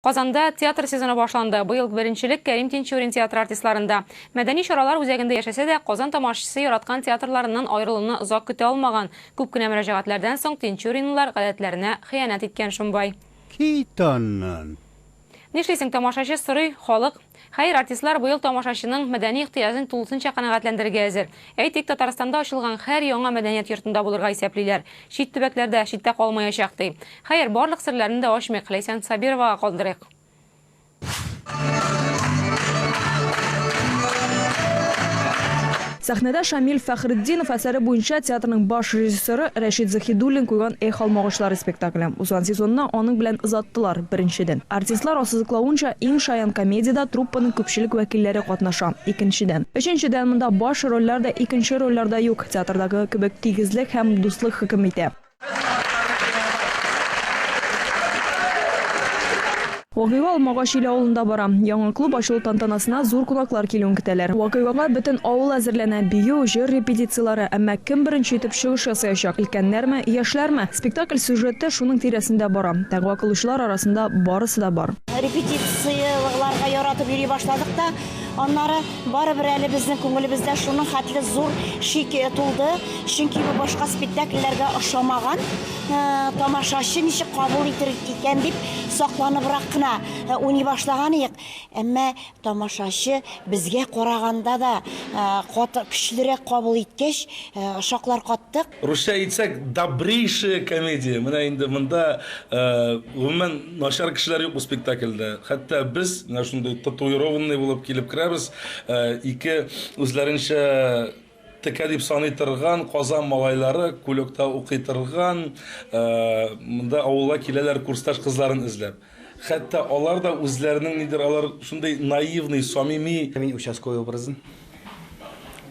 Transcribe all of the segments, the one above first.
Казанда театр сезоны башланды. Быел беренчелек Кәрим Тинчурин театры артистларында. Мәдәни чаралар үзәгендә яшәсә дә, Казан тамашачысы яраткан театрларыннан аерылуны озак көтә алмаган. Күп кенә мөрәҗәгатьләрдән соң тинчуринлылар гадәтләренә хыянәт иткән шомбай. Кит аннан! Нишлисең, тамашачы сорый, халык. Хәер, артистлар быел тамашачының мәдәни ихтыяҗын тулысынча канәгатьләндерергә әзер. Әйтик, Татарстанда ачылган һәр яңа мәдәният йортында булырга исәплиләр, чит төбәкләр дә читтә калмаячак, ди. Хәер, барлык серләрне дә ачмыйк, Ләйсән Сабировага калдырыйк. Сәхнәдә Шамил Фәхретдинов әсәре буенча театрның баш режиссеры Рәшит Заһидуллин куйган Эх, алмагачлары спектакле. Узган сезонны аның белән озаттылар, беренчедән. Артистлар ассызыклавынча, иң шаян комедиядә труппаның күпчелек вәкилләре катнаша, икенчедән. Өченчедән, монда баш рольләр дә, икенче рольләр дә юк, театрдагы кебек тигезлек һәм дуслык хөкем итә. Вакыйга Алмагач Ил авылында бара. Яңа клуб ачылу тантанасына зур кунаклар килүен көтәләр. Вакыйгага бөтен авыл әзерләнә, бию, җыр репетицияләре, әмма кем беренче итеп чыгыш ясаячак, өлкәннәрме, яшьләрме? Спектакль сюжеты шуның тирәсендә бара. Дәгъва кылучылар арасында барысы да бар. Репетицияләргә яратып йөри башладык та, аннары. Барыбер әле безнең күңелебездә шуның хәтле зур шик тулды, чөнки бу башка спектакльләргә ошамаган э, тамашачы ничек кабул итер икән дип сакланыбрак кына э, уйный башлаган идек. Әмма тамашачы безгә караганда да э, кат, көчлерәк кабул иткәч, шаклар каттык. Русча әйтсәк, добрейшая комедия. Менә инде монда, гомумән, начар кешеләр юк бу спектакльдә. Хәтта без, менә шундый татуированный булып килеп керәбез, ике үзләренчә текә дип саный торган Казан малайлары, Кулёкта укый торган, монда авылга киләләр курсташ кызларын эзләп. Хәтта алар да үзләренең нидер алар шундый наивный, самими. Мин участковый образын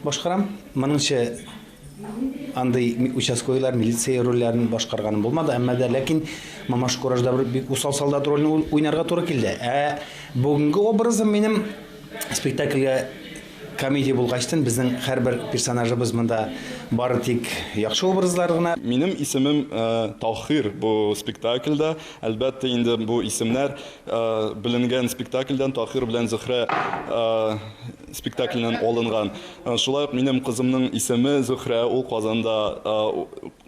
башкарам. Моныңчы андый участковыйлар, милиция рольләрен башкарганым булмады, әмма дә ләкин Мамаш Куражда бер бик усал солдат ролен уйнарга туры килде. Ә бүгенге образым минем спектакльгә комедия булгачтын, безнең һәрбер персонажыбыз монда бары тик яхшы образлар гына. Минем исемем Таһир бу спектакльдә. Әлбәттә инде бу исемнәр беленгән спектакльдән, Таһир белән Зөһрә спектакленнән алынган. Шулай ук минем кызымның исеме Зөһрә, ул Казанда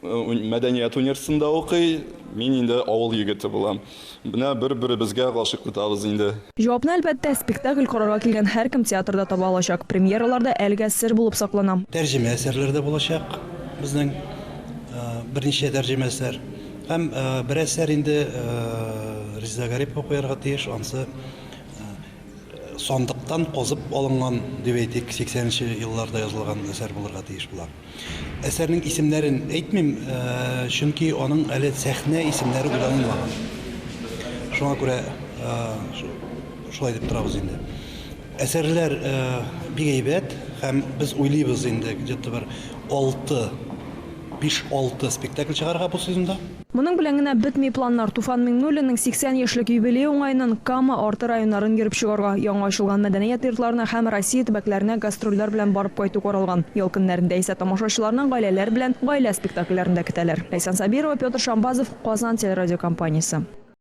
мәдәният университетында укый, мин инде авыл егете булам. Менә бер-беребезгә гашыйк тотабыз инде. Җавапны, әлбәттә, спектакль карарга килгән һәркем театрда таба алачак. Премьералар да әлегә сер булып саклана. Тәрҗемә әсәрләр дә булачак безнең, берничә тәрҗемә әсәр. Һәм бер әсәр инде Резеда Гарипова куярга тиеш, ансы сандыктан казып алынган, дип әйтик, 80 нче елларда язылган әсәр булырга тиеш була. Әсәрнең исемнәрен әйтмим, чөнки аның әле сәхнә исемнәре уйланылмаган. Шуңа күрә шулай дип торабыз инде. Әсәрләр бик әйбәт һәм без уйлыйбыз инде где-то бер алты, биш-алты спектакль чыгарырга бу сезонда. Моның белән генә бетми планнар. Туфан Миңнуллинның 80 яшьлек юбилее уңаеннан Кама Арты районнарын йөреп чыгарга, яңа ачылган мәдәният йортларына һәм Россия төбәкләренә гастрольләр белән барып кайту каралган. Ял көннәрендә исә тамашачыларны гаиләләр белән гаилә спектакльләрендә көтәләр. Ләйсән Сабирова, Петр Шамбазов, Казан телерадиокомпаниясе.